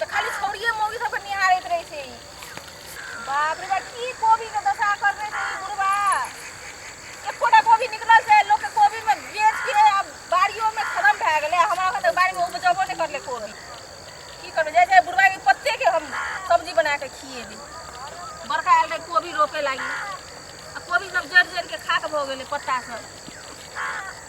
तऽ खाली छौड़िये मौगी सबके निहारैत रहै छै ई बाप रे बाप की कोबी के दशा करने छै ई बुढ़बा एकोटा कोबी निकलल छै लोक के कोबी में बेच के आब बाड़ियो में खत्म भए गेलै हमरा घर बाड़ी में उपजबो नहि करले कोबी की करबै जाइ जाइ बुढ़बा के पत्ते के हम सब्जी बना के खिएबै बड़का आयल रहे कोबी रोपे लागी आ कोबी सब जड़ जड़ के खाक भऽ गेलै पत्ता सब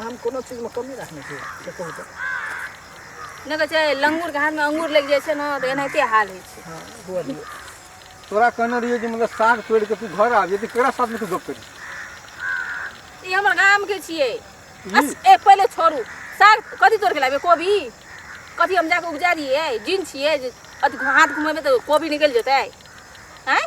हम कोनो चीजमे कमी रखने छी से कहू तऽ नहि कहै छै लंगूरके हाथमे अंगूर लागि जाइ छै ने तऽ एनाहिते हाल होइ छै हँ हुअ दियौ तोरा कहने रहियो जे मतलब साग तोड़ि कऽ तू घर आबि तऽ केकरा साथमे तू गप करी ई हमर गामके छियै अस, ए पहिले छोड़ू साग कथी तोड़ि के लाबे कोबी कथी हम जाके उपजा दियै जिन छियै जे अथी हाथ घुमेबै तऽ कोबी निकलि जेतै आँय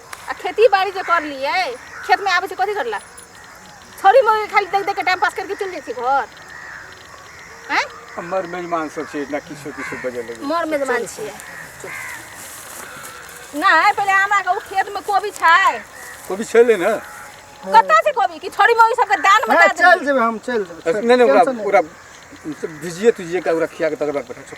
आ खेती बाड़ी जे कर लिए खेत में आबे से कथी करला छोरी मोरी खाली देख देख के टाइम पास करके चल जैसे घर हैं हमर मेजमान सब छै ना किछो किछो बजे लगे मोर मेजमान छिए नहीं पहले हमरा के उ खेत में कोबी छै कोबी छेले ना कतऽ से कोबी कि छोरी मोरी सबके दान में हाँ, दे चल जेबे हम चल जेबे चल, नहीं नहीं ओकरा टेंशन नहीं। ओकरा भिजिए तुझिए का ओकरा खिया के तकर बाद पठा